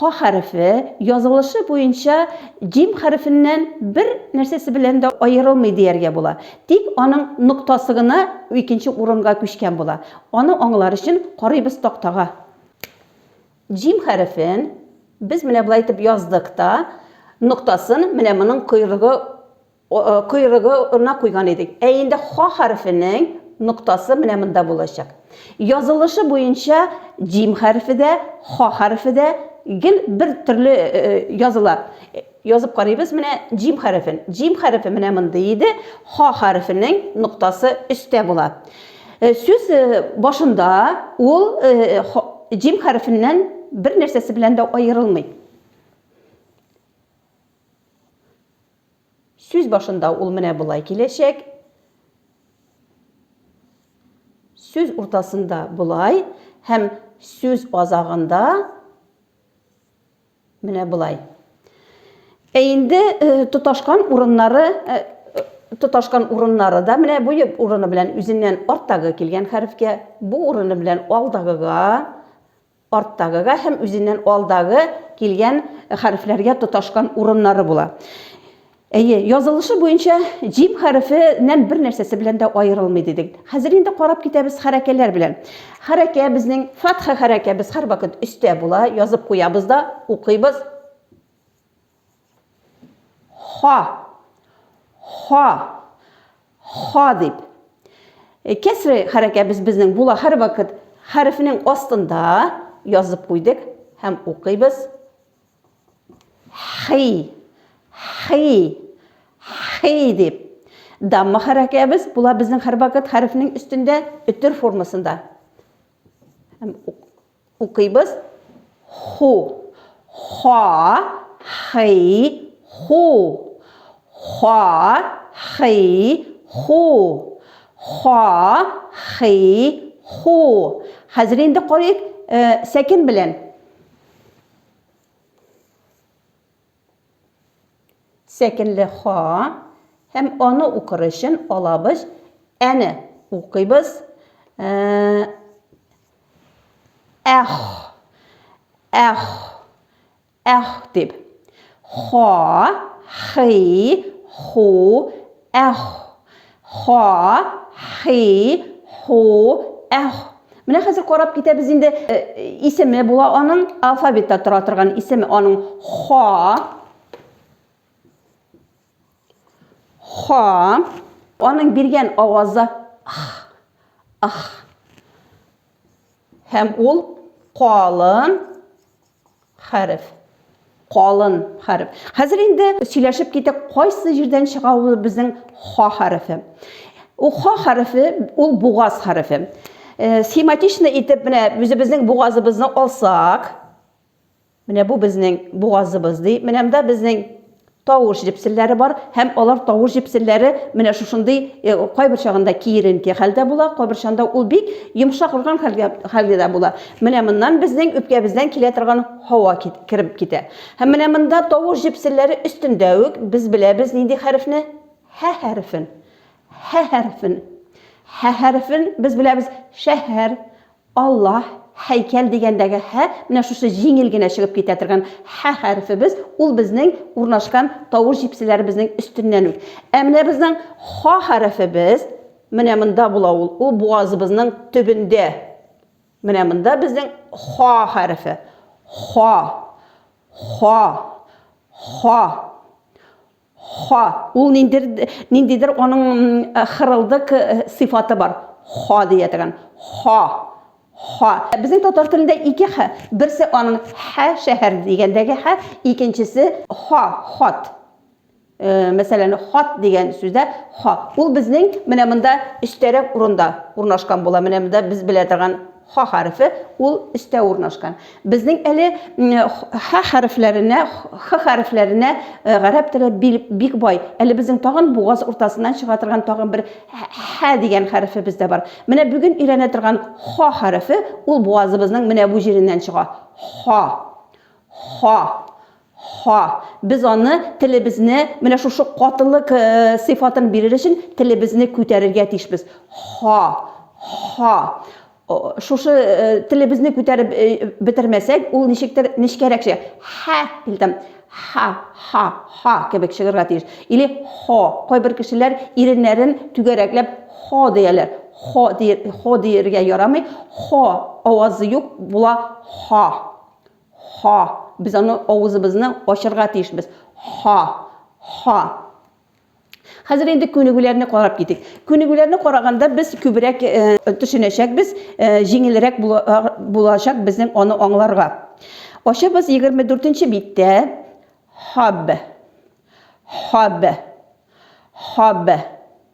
Ха хәрефе, язылышы буенча, җим хәрефеннән бер нәрсәсе белән дә аерылмый дияргә була, тик аның ноктасы гына икенче урынга күчкән була. Аны аңлар өчен карыйбыз тактага. Җим хәрефен без менә болай итеп яздык та, ноктасын менә моның койрыгы койрыгына куйган идек. Ә инде Ха хәрефенең ноктасы менә монда булачак. Язылышы буенча Җим хәрефе дә, Ха хәрефе дә гел бер төрле языла. Язып карыйбыз менә Җим хәрефен. Җим хәрефе менә мондый иде, Ха хәрефенең ноктасы өстә була. Сүз башында ул Җим хәрефеннән бер нәрсәсе белән дә аерылмый. Сүз башында ул менә болай киләчәк. Сүз уртасында болай һәм сүз азагында менә болай. Ә инде э, тоташкан урыннары э, тоташкан урыннары да менә бу урыны белән үзеннән арттагы килгән хәрефкә, бу урыны белән алдагыга, арттагыга һәм үзеннән алдагы килгән хәрефләргә тоташкан урыннары була. Әйе, язылышы буенча җим хәрефеннән бер нәрсәсе белән дә аерылмый дидек. Хәзер инде карап китәбез хәрәкәләр белән. Хәрәкә безнең фатха хәрәкә без һәрвакыт өстә була, язып куябыз да, укыйбыз. Ха. Ха. Ха дип. Э, кәсре хәрәкә без безнең була һәрвакыт хәрефнең астында язып куйдык һәм укыйбыз. Хи. Хи. Хи дип. Дамма хәрәкәбез була безнең һәрвакыт хәрефнең өстендә өтер формасында. Һәм Укыйбыз. Ху. Ха, хи, ху. Ха, хи, ху. Ха, хи, ху. Хәзер инде карыйк, сәкен белән. Сәкенле ха һәм аны укыр өчен алабыз. Әне укыйбыз. Әх. Әх. Әх дип. Ха, хи, ху, Әх, ха, хи, ху, әх. Менә хәзер карап китәбез инде. Э, исеме була аның, алфавитта тора торган исеме аның ха. Ха. Аның биргән авазы ах. Ах. Һәм ул калын хәреф. Калын хәреф. Хәзер инде сөйләшеп китек, кайсы җирдән чыга ул безнең ха хәрефе. Ул ха хәрефе, ул бугаз хәрефе. Э, схематично итеп менә үзебезнең бугазыбызны алсак, менә бу безнең бугазыбыз ди. Менә монда безнең Тавыш җепселләре бар һәм алар тавыш җепселләре менә шушындый э, кайбер чагында киеренке хәлдә була, кайбер чагында ул бик йомшак рурган хәлгә хәлгә дә була. Менә моннан безнең үпкәбездән килә торган һава кит, кереп китә. Һәм менә монда тавыш җепселләре өстендә үк без беләбез нинди хәрефне? Һә хәрефен. Һә хәрефен. Һә хәрефен без беләбез шәһәр, Аллаһ, һәйкәл дигәндәге һә менә шушы җиңел генә чыгып китә торган һә хәрефебез, ул безнең урнашкан тавыш җепселәребезнең өстеннән үк. Ә менә безнең ха хәрефебез менә монда була ул, ул бугазыбызның төбендә. Менә монда безнең ха хәрефе. Ха. Ха. Ха. Ха, ул ниндер, ниндидер аның хырылдык сыйфаты бар. Ха дия торган. Ха. Ха. Безнең татар телендә ике ха. Берсе аның ха шәһәр дигәндәге ха, икенчесе ха, хат. Мәсәлән, хат дигән сүздә ха. Ул безнең менә монда өстәрәк урында урнашкан була. Менә монда без белә торган Ха хәрефе ул өстә урнашкан. Безнең әле ха хәрефләренә, х хәрефләренә гарәп теле бик бай. Әле безнең тагын бугаз уртасыннан чыга торган тагын бер ха дигән хәрефебез дә бар. Менә бүген өйрәнә торган ха хәрефе ул бугазыбызның менә бу җиреннән чыга. Ха. Ха. Ха, без аны, телебезне, менә шушы катылык сыйфатын бирер өчен телебезне күтәрергә тиешбез. Ха, ха. Шушы телебезне күтәреп бетермәсәк, ул ничектер нечкәрәк чыга. Ха, дилдем. Ха, ха, ха кебек чыгарга тиеш. Или хо. Кайбер кешеләр иреннәрен түгәрәкләп хо дияләр. Хо дир, хо диергә ярамый. Хо авазы юк була. Ха. Ха. Без аны авызыбызны ачырга тиешбез. Ха. Ха. Хәзер инде күнегүләрне карап китик. Күнегүләрне караганда без күбрәк төшенәчәкбез, җиңелрәк булачак безнең аны аңларга. Ачабыз 24 биттә. Хаб. Хаб. Хаб.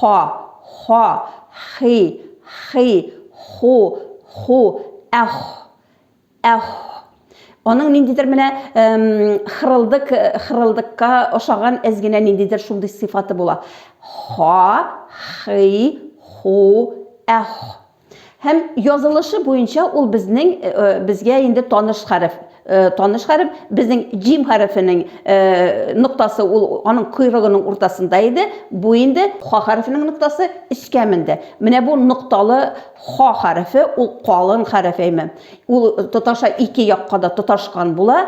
Ха, ха, хи, хи, ху, ху, әх, әх. Аның ниндидер менә хырылдык, хырылдыкка ошаган әз генә ниндидер шундый сыйфаты була. Ха, хи, ху, әх. Һәм язылышы буенча ул безнең э, э, безгә инде таныш хәреф. Э, таныш хәреф безнең җим хәрефенең ноктасы ул аның койрыгының уртасында иде. Бу инде ха хәрефенең ноктасы өскә менде. Менә бу нокталы ха хәрефе ул калын хәреф әйме. Ул тоташа ике якка да тоташкан була.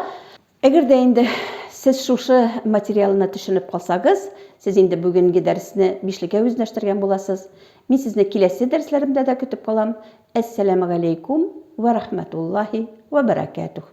Әгәр дә инде сез шушы материалына төшенеп калсагыз, сез инде бүгенге дәресне бишлеккә үзләштергән буласыз. Мин сезне киләсе дәресләремдә дә көтеп калам. Әссәламегаләйкүм вә рәхмәтуллаһи вә бәрәкәтүһ.